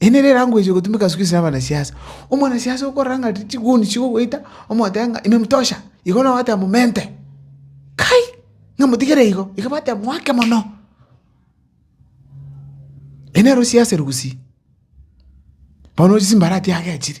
Ere nere elanguage egotumeka ase goisera abanasiasa. Omwanasiasa okorora ng'a chiguni chigogoita, omotebe ng'a ime mtosha, igo nabo bateba momente. Kai! Ng'a motigere igo, igo bateba mwake mono. Ere nere osiasire gusii, bono ochi chimbaratia agechire.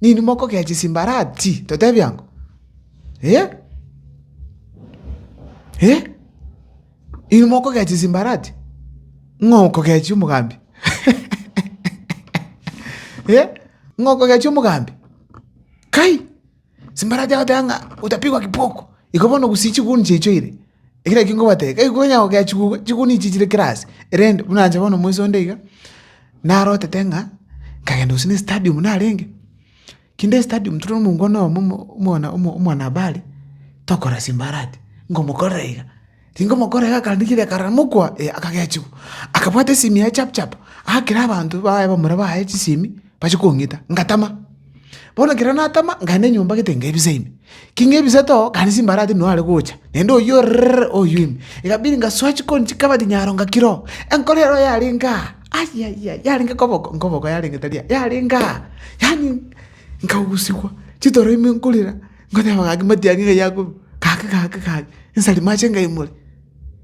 Ninwe mokogea chisimbarati, totebie ango? Eh? Eh? Inwe mokogea chisimbarati? Ng'a okogea chiomogambi? Eh? Ng'a okogea chiomogambi? Kai! Simbarati agoteba ng'a, utapigwa kiboko. Igo bono gusii chiguni chiaito ire. Ekero ekio nkobatebia, gaki konya gokea chiguga, chigunia echi chire kera ase, erende buna inche bono moiso onde iga, narotete ng'a nkagenda gose n'estadium narenge, kende estadium tore omongwana oyomo omo omwana omo omwanahabari, tokora simbarati, nkomokorera iga, tinkomokorera iga akarenda ekiagera karamokwa, ee akagea chiko, akabwata esimi yaye chap chap, akera abanto baye bamura baye chisimi. bachia kong'ita, ngatama. Bono ekero natama, nkaenda enyomba gete nkaebisa ime. Ki nkaebisa too, gari chimbara tindi noare gocha, naende oyio orrrrr oyio ime. Ekabidi ngasoa chikoni chikabati nyaro ngakira oo. Enkoro ero yarenge aa, ayayaya, yarenge koboko, nkoboko yarenge tari aa, yarenge aa. Yaani nkagusigwa, chitoro ime nkorera, nkoteba gaki matiang'i ng'ai akorwa, gaki gaki gaki, nsari mache nkaimore.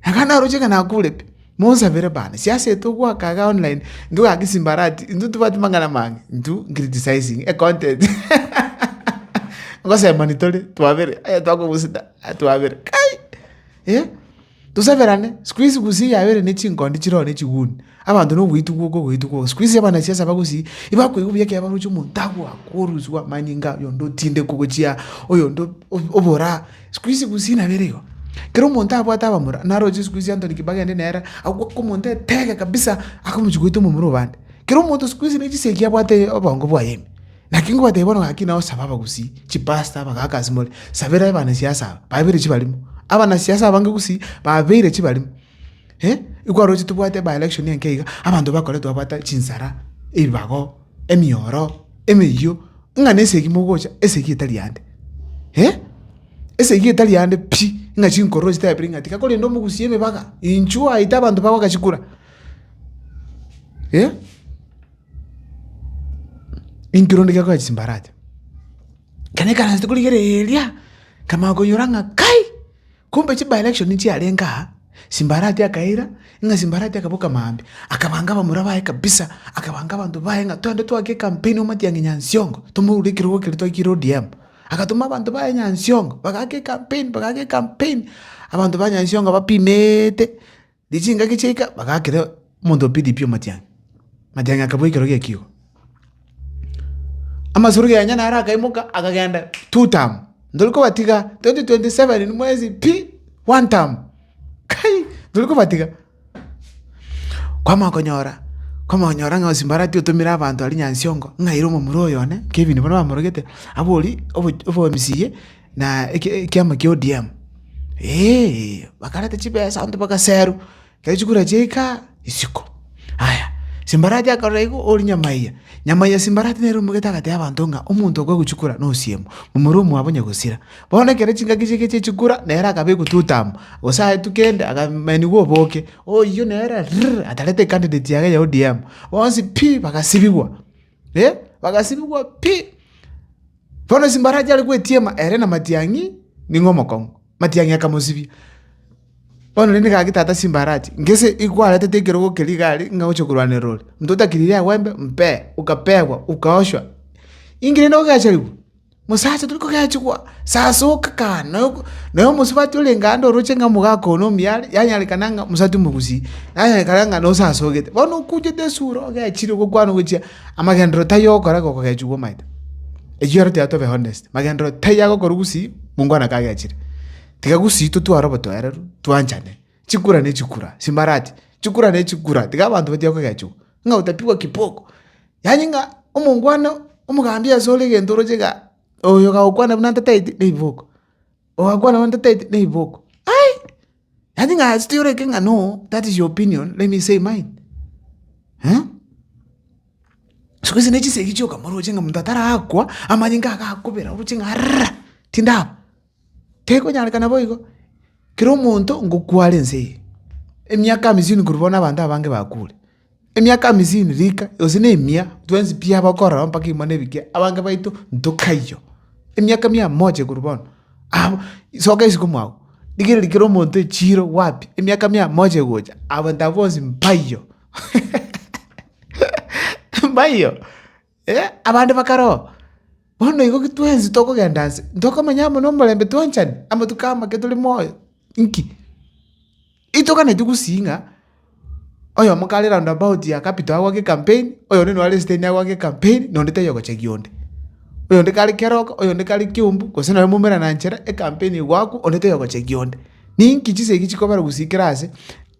Ekero naroche ng'a nakure pi. Monsabere bane, siasete ogoaka iga online intwe goaka esimbarati intwe tobwati mang'ana amange intwe criticizing a content ngosemani tore twabere aye twakogusida aye twabere kai eh tosaberane sikuizi gusii yabere ne chinkondi chire oo ne chiguni abanto na ogoitugwa oka ogoitugwa oka sikuizi abanasiasa bagosii ibakoigwa buya ekero baroche omonto agoaka oroswa amanyinga oyonde otinde kogochia oyonde obora. Siku ici gose inabere igo, kera omonto abwate abamura, naroche siku ici Anthony Kibaki aende nere, agoka omonto etege kabisa, akamochia goita omomura obande. Kera omonto siku ici ne chisegi abwate obongo bwaye ime. Naki ngobatebia bono gaki nao saba abagusii, chipasta abagaka ase more, sabera abanasiasa aba, babeire chibarimo. Abanasiasa abange gusii, babeire chibarimo. Ikwarorire tobwate by election enke iga, abanto bakoretwe babwate chinsara, ebibago. emioro emeyio, ng'a na esegi mogocha, esegi etari yande, eh? Esegi etari yande pi, ng'a chinkororo chitebire ng'a tiga korenda omogusie emebaga, inchuo aete abanto bago agachikura, eh? Inki rende gekonya chimbaracha? Ekero naikaransete korigereria, nkamanya konyora ng'a kai. Kombe chi by-election chiarenge aa, Simbarati akaira ng'a Simbarati akaba Okamambe, akabanga abamura baye kabisa, akabanga abanto baye ng'a twende twake ecampaign o Matiang'i Nyansiongo, tomoure ekerogo keria twaikire ODM. Agatoma abanto baye Nyansiongo, bagaaka ecampaign, bagaaka ecampaign, abanto ba Nyansiongo bapimeete. Ne chingaki chiaika bagaakera omonto o Pilipi omatiang'i, amatiang'i akabua ekero gi'ekigo. Amasoro yaye naro akaimoka akagenda two term, ntori kobatiga 2027 mwezi pi one term, kai ntori kobatiga. Kwamanya konyora, kwamanya konyora ng'a Osimbarati otomire abanto aria Nyansiongo ng'a aire omomura oyo one, Kevin baria bamorogete, aborie obo obo MCA. Na ekiama kia ODM, ee, bakareta chibesa abanto bagaserwa, ekero chikura chiaika isiko. Aya, Simbarati akarora igo ori Nyamaiya, Nyamaiya Simbarati nere omogete agatebia abanto ng'a omonto okwe agochikura nosiemo, momura omwabo onya gosira. Bono ekero chingaki chiaike chia chikura nere akabekwa tutamo, gose aetwe kende akamenigwa oboke, oyio nere rrrr atarete ecandidate yaye ya ODM, bonsi pi! bagasibigwa. bagasibigwa pi. Bono embarachi are gwetiema ere na matiang'i nigo omokong'u, matiang'i akamosibia. Bono rende gaki tata embarachi ngese ekwaretete ekerogo keria igare ng'a ogochia korwanera ore, motho otakiri riagwembe mpe, okapegwa, okaoshwa, inki rende ogechariwa? Mosacha tori kogechigwa, sasa oka kane, na omosubati orenge aande oroche ng'a omogaka one omuya are, yanyarekana ng'a mosubati omogusii, yanyarekana ng'a nosasogete. Bono okuchete esura ogechire gokwana ogochia amagenderero taiyo ogokora iga okogechigwa omanyete. Erio ero tiga tobe honest, magenderero taiyo agokora ogusii mongo one kagechire. Tiga gusii totware obotoereru, twanchane. Chikura ne chikura, simbarati, chikura ne chikura, tiga abanto batiga kogechiwa, ng'a otapigwa kiboko. Yaani ng'a omongwana omogambi asore egento oroche igaa, oyo kagokwana buna ntataeti ne riboko, ogakwana buna ntataeti ne riboko, ai! Yaani ng'a still orenge ng'a no, that is your opinion, let me say mine siku hizi ne chisegi chioka moroche ng'a monto atarakwa, amanyinga agakobera oroche ng'a rrrra, tindaba. Tekonyarekana boigo, kera omonto ngokware ense eye, emiaka amisini korwa bono abanto abange bakure. Emiaka amisini rika, gose na emia, twensi pi aba okorora mpaka imo na ebikia, abange baito ntokaiyo. Emiaka mia moche korwa bono, abo soka isiko mwago, rigereria kera omonto echiiro wapi, emiaka mia moche gocha, abanto aba bonsi mpaiyo, mpaiyo. Abande bakarora, bono igo twensi tokogenda aase, ntokomanya amo nomorembe twanchani amatuko amake tore moyo. Inki? Itoganeti gusii ng'a oyomo kare round about ya capital agoake ekampeni, oyonde nare esiteni agoake ekampeni, na onde tayogochagia onde. Oyonde kare keroka, oyonde kare kiumbu, gose nonye moumerana nchera, ekampeni egoakwa, onde tayogochagia onde. Ninki chisegi chikobera gusii kera aase.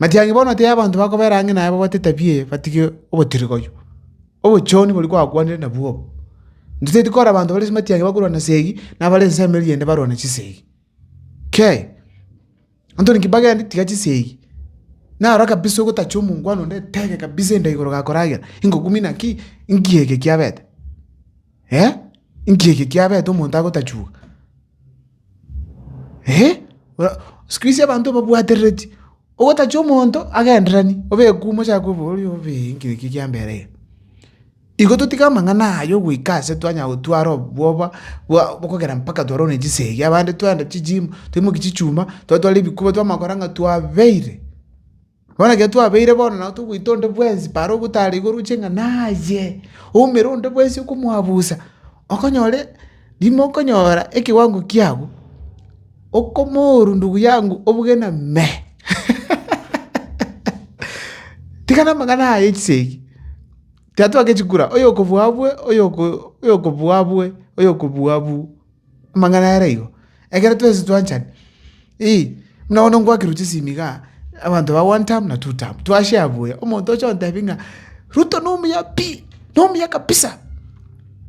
Matiang'i bono hotei abanto bakobera ang'e naye babwate etabia eye batige obotirigoyo, obochoni boria kwakwanire nabwo obo. Ntotaeti kora abanto bare ase matiang'i bakorwana esegi, na abare ensemo emeeri eyende barwane chisegi. Kei, Anthony kibagende tiga chisegi, naro kabisa ogotacha omongwana onde etebe kabisa enda'a igoro gakoragera, ingokumina ki? Inki eke kiabete? inki eke kiabete omonto agotachiwa? Sikuisi abanto babwatereti, ogotachia omonto agenderani, obekuma ochake oborie obeee nki eki kiambera iga. Igo totige amang'ana aya ogoika ase twanya gotwara obwoba bwa okogera mpaka twarwa ne chisegi, abande tware ne chi gym, toimoki chichuma, twatwara ebikuba twamanya kora ng'a twabeire. Bono ekero twabeire bono nabo togoita onde bwensi paro ogotara iga oroche ng'a naye oumera onde bwensi okomoabusa, okonyore rimo okonyora ekewango kiago okomoru ndugu yangu obuge na me tiga na amang'ana aya ya chisegi tiga twagechikura oyokobua abue oyoko oyokobua abue oyokobua abu. Amang'ana aya naigo, ekero twensi twanchani, ii, buna bono ngoakirwe chisimi igaa, abanto ba one term na two term, twashare buya, omonto ocha ontebia ng'a ruto nomuya pi, nomuya kabisa,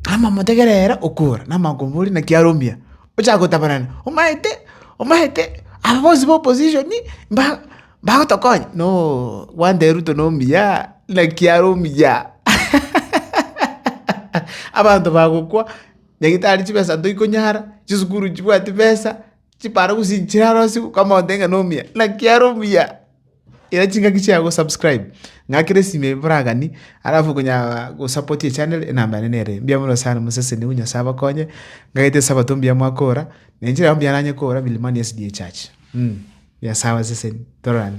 amamotegera ere okora, namanya komboria naki are omuya, ochaka gotabanana, omaete, omaete, aba bonsi ba opposition mba mbagotokonya, noo gwantebia ruto nomuya, naki are omuya, abanto bagokwa. Nyagitari chibesa toikonyara, chisukuru chibwati besa, chiparo gose inche narosiwu, komonto ng'a nomuya, naki are omuya. Era chingaki chiago subscribe, ng'akere esime eye boragani, alafu okonyara gosapoti echanere enamba yane nere eye. Mbuya mono sana mosesenigwe Nyasaye abakonye, ng'agete esabato mbuya mwakora, na inche nabo mbuya nanye kora Milimani SDA church, Nyasaye abaseseni, tororane.